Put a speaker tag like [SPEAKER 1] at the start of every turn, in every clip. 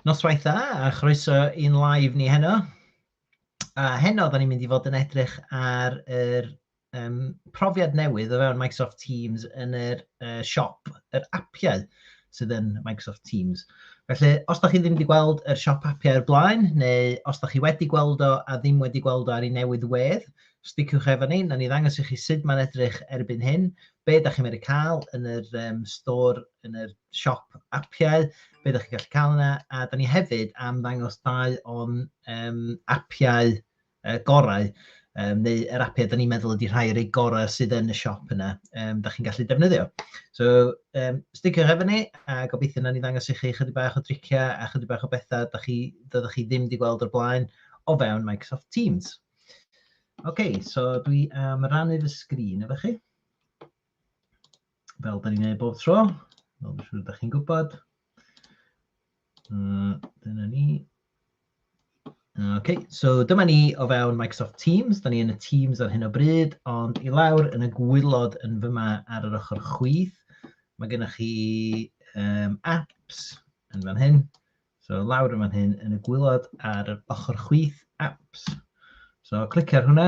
[SPEAKER 1] Noswaith dda a chroeso i'n live ni heno. A heno, da ni'n mynd i fod yn edrych ar yr um, profiad newydd o fewn Microsoft Teams yn yr uh, siop, yr apiau sydd yn Microsoft Teams. Felly, os da chi ddim wedi gweld yr siop apiau o'r blaen, neu os da chi wedi gweld o a ddim wedi gweld o ar ei newydd wedd, Sticiwch efo ni, na ni ddangos i chi sut mae'n edrych erbyn hyn, be da chi'n mynd i cael yn yr um, store, yn yr siop apiau, be da chi'n gallu cael yna, a da ni hefyd am ddangos dau o'n um, apiau uh, gorau um, neu yr apiau da ni'n meddwl ydy rhai o'r ei gorau sydd yn y siop yna, um, da chi'n gallu defnyddio. So, um, sticio'r efo ni, a gobeithio na ni ddangos i chi chydig bach o driciau a chydig bach o bethau da chi, da chi ddim wedi gweld o'r blaen o fewn Microsoft Teams. OK, so dwi am rannu fy sgrin efo chi. Fel da ni'n ei bob tro, fel dwi'n siŵr da chi'n gwybod. Uh, dyna ni. OK, so dyma ni o fewn Microsoft Teams. Da ni yn y Teams ar hyn o bryd, ond i lawr yn y gwylod yn fyma ar yr ochr chwith, mae gennych chi um, apps yn fan hyn. So lawr yn fan hyn yn y gwylod ar yr ochr chwith apps. So clicio ar hwnna.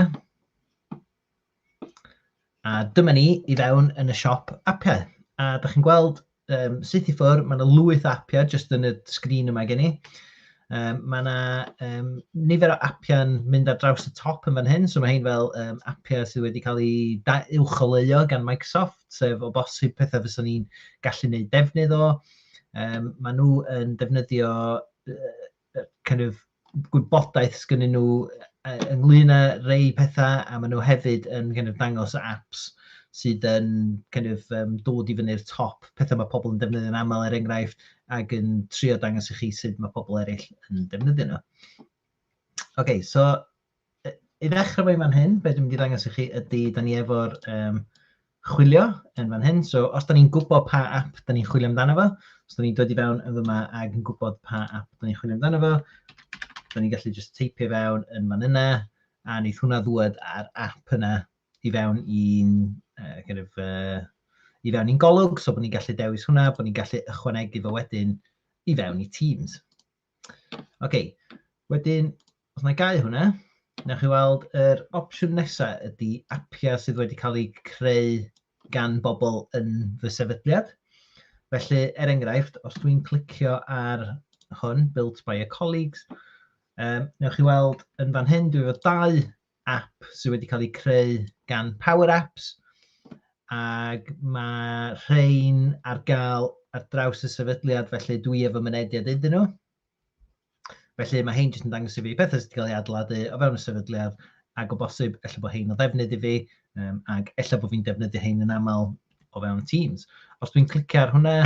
[SPEAKER 1] A dyma ni i fewn yn y siop appiau. A da chi'n gweld um, syth i ffwrdd, mae yna lwyth appiau jyst yn y sgrin yma gen i. Um, mae yna um, nifer o appiau'n mynd ar draws y top yn fan hyn, so mae hyn fel um, appiau sydd wedi cael ei uwcholeuo gan Microsoft, sef o bosib pethau fyswn ni'n gallu gwneud defnydd o. Um, yym maen nhw yn defnyddio yy kind of gwybodaeth sgynnyn nhw yy ynglyn â rei pethau, a maen nhw hefyd yn kind of dangos apps sydd yn kind of yym dod i fyny'r top, pethau mae pobl yn defnyddio'n aml er enghraifft, ac yn trio dangos i chi sut mae pobl eraill yn defnyddio nhw. Ok, so i ddechrau fo i fan hyn, be dwi'n mynd i ddangos i chi ydy, da ni efo'r um, chwilio yn fan hyn. So, os da ni'n gwybod pa app da ni'n chwilio amdano fo, os da ni'n dod i fewn yn fyma ag yn gwybod pa app da ni'n chwilio amdano fo, da ni'n gallu just teipio fewn yn fan yna, a wneud hwnna ddwed ar app yna i fewn i'n uh, kind of, uh, i fewn i'n golwg, so bod ni'n gallu dewis hwnna, bod ni'n gallu ychwanegu fo wedyn i fewn i Teams. Ok, wedyn, os na i gau hwnna, newch chi weld yr opsiwn nesa ydy apiau sydd wedi cael eu creu gan bobl yn fy sefydliad. Felly, er enghraifft, os dwi'n clicio ar hwn, Built by a Colleagues, um, newch chi weld yn fan hyn, dwi efo dau app sydd wedi cael ei creu gan Power Apps ac mae rhain ar gael ar draws y sefydliad felly dwi efo mynediad iddyn nhw. Felly mae hein jyst yn dangos i fi pethau sydd wedi cael ei adladu o fewn y sefydliad ac o bosib efallai bod hein o ddefnydd i fi um, ac efallai bod fi'n defnyddio hein yn aml o fewn Teams. Os dwi'n clicio ar hwnna,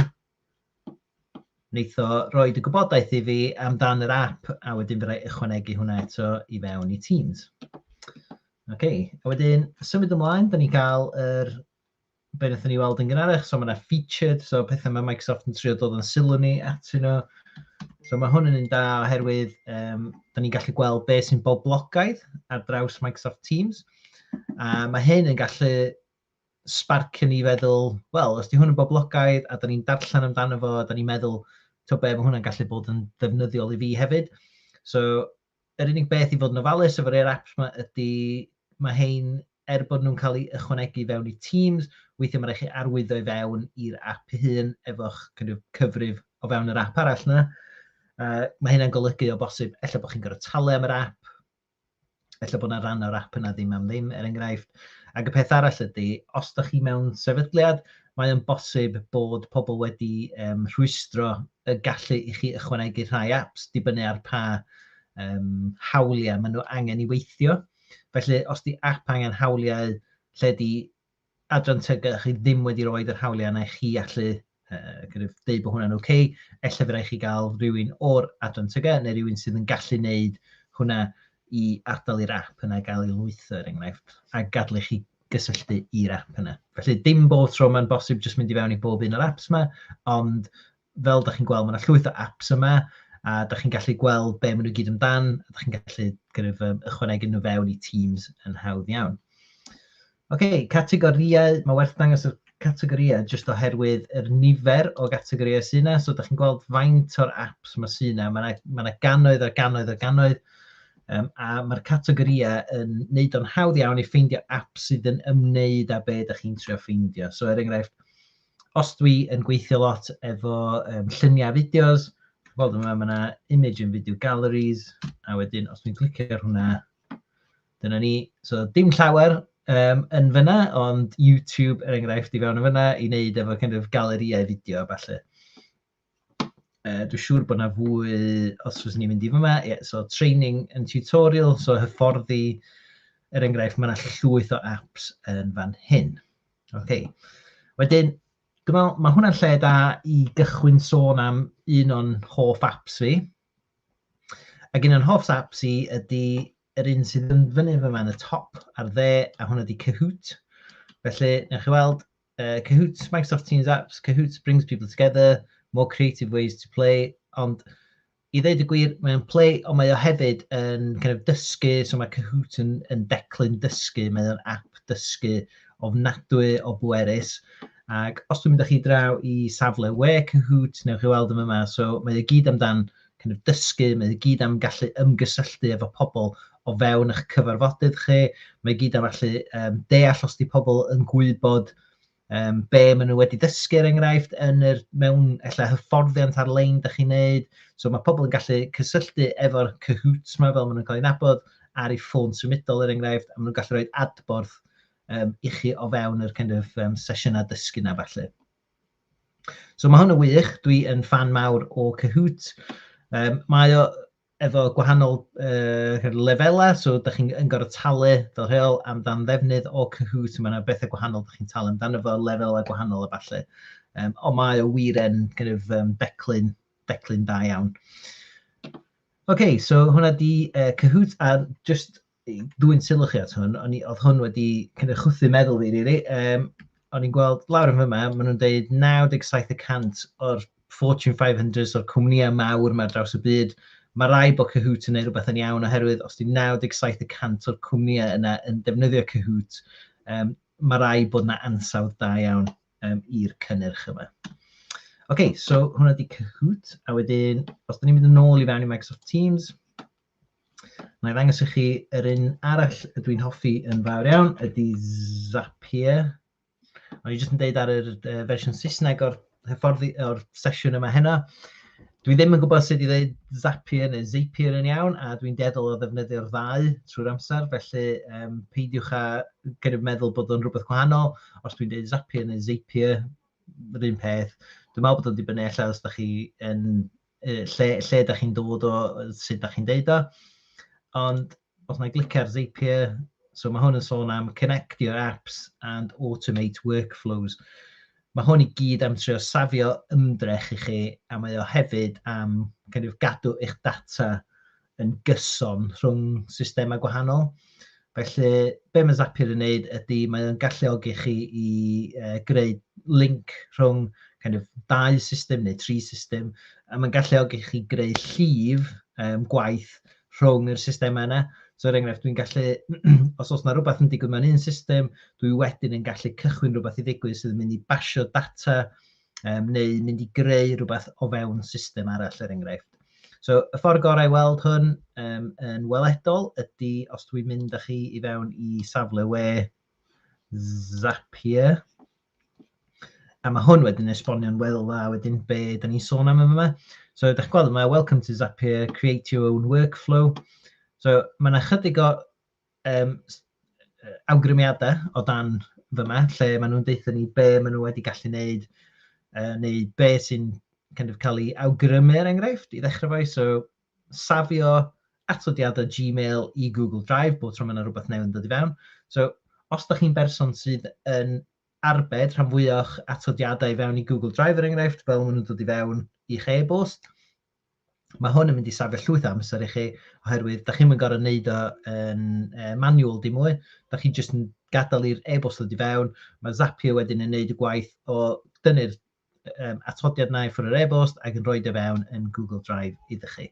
[SPEAKER 1] wneith o roed y gwybodaeth i fi amdan yr app a wedyn fydda i ychwanegu hwnna eto i fewn i Teams. OK, a wedyn symud ymlaen, da ni gael yr er, be wnaethon ni weld yn gynharach, so mae yna featured, so pethau mae Microsoft yn trio dod yn sylw ni at yno. So mae hwn yn un da oherwydd um, da ni'n gallu gweld beth sy'n boblogaidd ar draws Microsoft Teams. A mae hyn yn gallu sbarc yn ni feddwl, wel, os di hwn yn boblogaidd a da ni'n darllen amdano fo, da ni'n meddwl, to be, mae hwnna'n gallu bod yn ddefnyddiol i fi hefyd. So, yr unig beth i fod yn ofalus efo'r Air apps yma ydy, mae hein, er bod nhw'n cael ei ychwanegu fewn i Teams, weithiau mae rhaid chi arwyddo i fewn i'r app hun efo'ch cyfrif o fewn yr app arall yna. Uh, mae hynna'n golygu o bosib, efallai bod chi'n gorfod talu am yr app, Ella bod yna rhan o'r app yna ddim am ddim, er enghraifft. Ac y peth arall ydy, os da chi mewn sefydliad, mae o'n bosib bod pobl wedi um, rhwystro y gallu i chi ychwanegu rhai apps, dibynnu ar pa um, hawliau maen nhw angen i weithio. Felly, os di app angen hawliau lle di adran TGA a chi ddim wedi rhoi yr hawliau yna i chi allu uh, kind of, deud bod hwnna'n oce, okay, efallai fyddai chi gael rhywun o'r adran TGA neu rhywun sydd yn gallu wneud hwnna i adael i'r app yna gael ei lwytho er enghraifft a gadlu chi gysylltu i'r app yna. Felly dim bob tro mae'n bosib jyst mynd i fewn i bob un o'r apps yma, ond fel da chi'n gweld, mae yna llwyth o apps yma, a da chi'n gallu gweld be maen nhw gyd amdan, a da chi'n gallu kind of, um, ychwanegu nhw fewn i Teams yn hawdd iawn. Oce, okay, categoriau, mae werth dangos y categoriau jyst oherwydd yr nifer o gategoriau sy'n yna, so da chi'n gweld faint o'r apps mae sy'n yna, mae yna, mae yna gannoedd a gannoedd a gannoedd, um, a mae'r categoriau yn neud o'n hawdd iawn i ffeindio apps sydd yn ymwneud â be da chi'n trio ffeindio. So er enghraifft, os dwi yn gweithio lot efo um, lluniau fideos, gweld yma, mae yna image and video galleries, a wedyn os dwi'n clicio ar hwnna, dyna ni. So dim llawer um, yn fyna, ond YouTube er enghraifft i fewn yn fyna i wneud efo kind of galeriau fideo a falle. Uh, dwi'n siŵr bod yna fwy, os fyswn ni'n mynd i fyma, yeah, so training and tutorial, so hyfforddi, er enghraifft, mae yna llwyth o apps yn fan hyn. Okay. Wedyn, dwi'n meddwl, mae hwnna'n lle da i gychwyn sôn am un o'n hoff apps fi. Ac un o'n hoff apps i ydy yr un sydd yn fyny fyma yn y top ar dde, a hwnna ydy Kahoot. Felly, newch chi weld, uh, Kahoot, Microsoft Teams apps, Kahoot brings people together, more creative ways to play, ond i ddeud y gwir, mae'n play, ond mae o hefyd yn kind of dysgu, so mae Kahoot yn, yn declyn dysgu, mae o'n app dysgu ofnadwy o bwerus. Ac os dwi'n mynd â chi draw i safle we Kahoot, newch chi weld yma, so mae o gyd amdan kind of dysgu, mae i gyd am gallu ymgysylltu efo pobl o fewn eich cyfarfodydd chi, mae i gyd am allu um, deall os di pobl yn gwybod um, be maen nhw wedi dysgu er enghraifft yn yr mewn ella hyfforddiant ar-lein da chi'n neud. So mae pobl yn gallu cysylltu efo'r cyhwt yma fel maen nhw'n cael ei nabod ar ei ffôn symudol er enghraifft, a maen nhw'n gallu rhoi adborth um, i chi o fewn yr kind of, um, sesiynau dysgu na falle. So mae hwn yn wych, dwi yn fan mawr o Kahoot. Um, mae o efo gwahanol uh, lefelau, so da chi'n yn gorfod talu fel rheol amdan ddefnydd o Kahoot, mae yna bethau gwahanol da chi'n talu amdano fo, lefelau gwahanol a falle. Um, ond mae o wir yn kind of, um, declyn, declyn da iawn. OK, so hwnna di uh, Kahoot, a just dwyn sylw chi at hwn, o'n i, oedd hwn wedi cynnig chwthu meddwl fi, rili. Um, o'n i'n gweld lawr yn fyma, maen nhw'n dweud 97 y cant o'r Fortune 500 o'r cwmnïau mawr mae draws y byd, mae rai bod Kahoot yn ei rhywbeth yn iawn oherwydd os di 97 y cant o'r cwmnïau yna yn defnyddio Kahoot, um, mae rai bod yna ansawdd da iawn um, i'r cynnyrch yma. OK, so hwnna di Kahoot, a wedyn, os da ni'n mynd yn ôl i fewn i Microsoft Teams, Mae'n ddangos i chi yr un arall y dwi'n hoffi yn fawr iawn, ydy Zapier. O'n i jyst yn deud ar yr uh, fersiwn Saesneg o'r hyfforddi o'r sesiwn yma heno. Dwi ddim yn gwybod sut i ddeud Zapier neu Zapier yn iawn, a dwi'n deddol o ddefnyddio'r ddau trwy'r amser, felly um, peidiwch â gynnyb meddwl bod o'n rhywbeth gwahanol. Os dwi'n deud Zapier neu Zapier, yr un peth. Dwi'n meddwl bod o'n dibynnu allan os da chi yn lle, lle da chi'n dod o, sut da chi'n deud o. Ond os na glicio ar Zapier, so mae hwn yn sôn am connect your apps and automate workflows. Mae hwn i gyd am trio safio ymdrech i chi, a mae o hefyd am kind of, gadw eich data yn gyson rhwng systemau gwahanol. Felly, be mae Zapier yn neud ydy mae o'n galluogi chi i uh, greu link rhwng kind of, dau system neu tri system, a mae'n galluogi chi greu llif um, gwaith rhwng yr systemau yna. So, er enghraifft, dwi'n gallu, os oes yna rhywbeth yn digwydd mewn un system, dwi wedyn yn gallu cychwyn rhywbeth i ddigwydd sydd yn mynd i basio data um, neu mynd i greu rhywbeth o fewn system arall er enghraifft. So y ffordd gorau i weld hwn um, yn weledol ydy os dwi'n mynd â chi i fewn i safle we Zapier. A mae hwn wedyn esbonio'n weddol dda wedyn be da ni'n sôn am yma. So ydych chi'n gweld yma, welcome to Zapier, create your own workflow. So mae yna chydig o yym awgrymiadau o dan fama, lle maen nhw'n deutha ni be maen nhw wedi gallu wneud, uh, neu be sy'n kind of cael ei awgrymu er enghraifft, i ddechrau fo. So, safio atodiadau Gmail i Google Drive, bod tro mae yna rhywbeth newydd yn dod i fewn. So, os da chi'n berson sydd yn arbed rhan fwyach atodiadau i fewn i Google Drive er enghraifft, fel maen nhw'n dod i fewn i'ch e-bost, Mae hwn yn mynd i safio llwyth o amser i chi, oherwydd da chi'n mynd gorau wneud o yn uh, manual di mwy, da chi jyst yn gadael i'r e-bost ddod i fewn, mae Zapier wedyn yn wneud y gwaith o dynnu'r um, atodiad na i ffwrdd yr e-bost ac yn rhoi dy e fewn yn Google Drive iddo chi.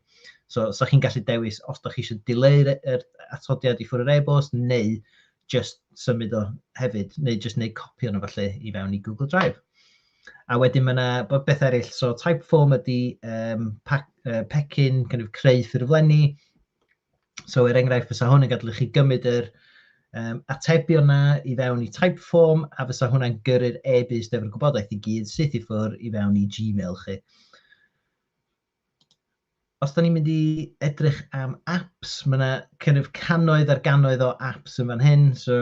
[SPEAKER 1] So, so chi'n gallu dewis os da chi eisiau dileu'r er atodiad i ffwrdd yr e-bost neu jyst symud o hefyd, neu jyst wneud copi ohono falle i fewn i Google Drive. A wedyn mae yna beth eraill, so Typeform ydy um, pecyn, kind of creu ffurflenni. So er enghraifft, fysa hwn yn gadw chi gymryd yr um, atebion yna i fewn i Typeform, a fysa hwnna'n gyrru'r e-byst efo'r gwybodaeth i gyd syth i ffwrdd i fewn i Gmail chi. Os da ni'n mynd i edrych am apps, mae yna cynnydd canoedd ar ganoedd o apps yn fan hyn, so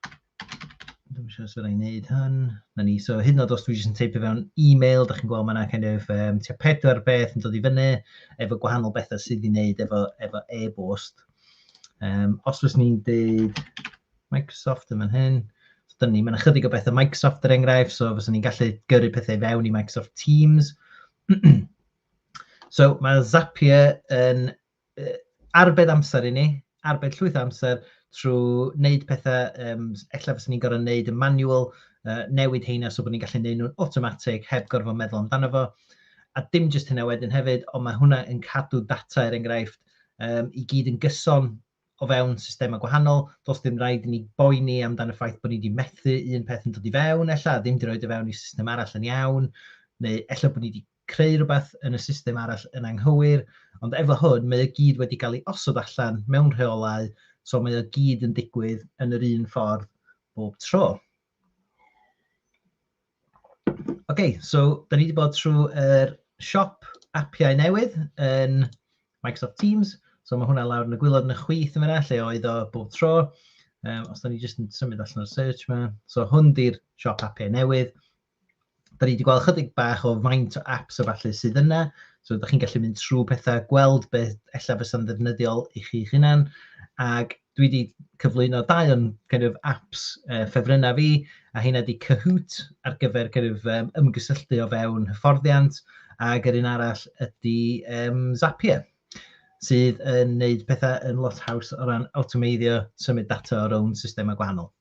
[SPEAKER 1] dwi'n siŵr sut rhaid wneud hyn. Na ni, so hyd yn oed os dwi jyst yn teipio fewn e-mail, da chi'n gweld mae yna kind of, um, tua pedwar beth yn dod i fyny efo gwahanol bethau sydd i wneud efo, efo e-bost. Um, os fes ni'n deud Microsoft yn fan hyn, so dyn ni, mae yna chydig o bethau Microsoft er enghraifft, so fes ni'n gallu gyrru pethau fewn i Microsoft Teams, so mae Zapier yn uh, arbed amser i ni, arbed llwyth o amser trwy wneud pethau, um, efallai fyswn ni'n gorfod wneud y manual, uh, newid heina so bod ni'n gallu gwneud nhw'n automatic heb gorfod meddwl amdano fo. A dim jyst hynna wedyn hefyd, ond mae hwnna yn cadw data er enghraifft um, i gyd yn gyson o fewn systemau gwahanol, does dim rhaid i ni boeni amdan y ffaith bod ni wedi methu un peth yn dod i fewn, ella, ddim wedi rhoi o fewn i system arall yn iawn, neu ella bod ni wedi creu rhywbeth yn y system arall yn anghywir, ond efo hwn, mae o gyd wedi cael ei osod allan mewn rheolau, so mae o gyd yn digwydd yn yr un ffordd bob tro. Okay, so da ni wedi bod trwy yr siop appiau newydd yn Microsoft Teams. So mae hwnna lawr yn y gwylod yn y chwith yn fyna, lle oedd o bob tro. Um, os da ni jyst yn symud allan o'r search yma. So hwn di'r siop appiau newydd. Da ni wedi gweld chydig bach o faint o apps a falle sydd yna, so ydych chi'n gallu mynd trwy pethau, gweld beth ella fysa'n ddefnyddiol i chi'ch hunan, ac dwi wedi cyflwyno dau o'n kind of, apps uh, ffefrynnau fi, a hynna di Kahoot ar gyfer kind of, um, ymgysylltu o fewn hyfforddiant, ac yr un arall ydy um, Zapier, sydd yn gwneud pethau yn lot haws o ran awtomeiddio symud data o rown systemau gwahanol.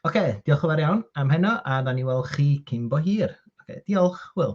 [SPEAKER 1] Oce, okay, diolch yn fawr iawn am heno, a da ni weld chi cyn bo hir. Oce, okay, diolch, Will.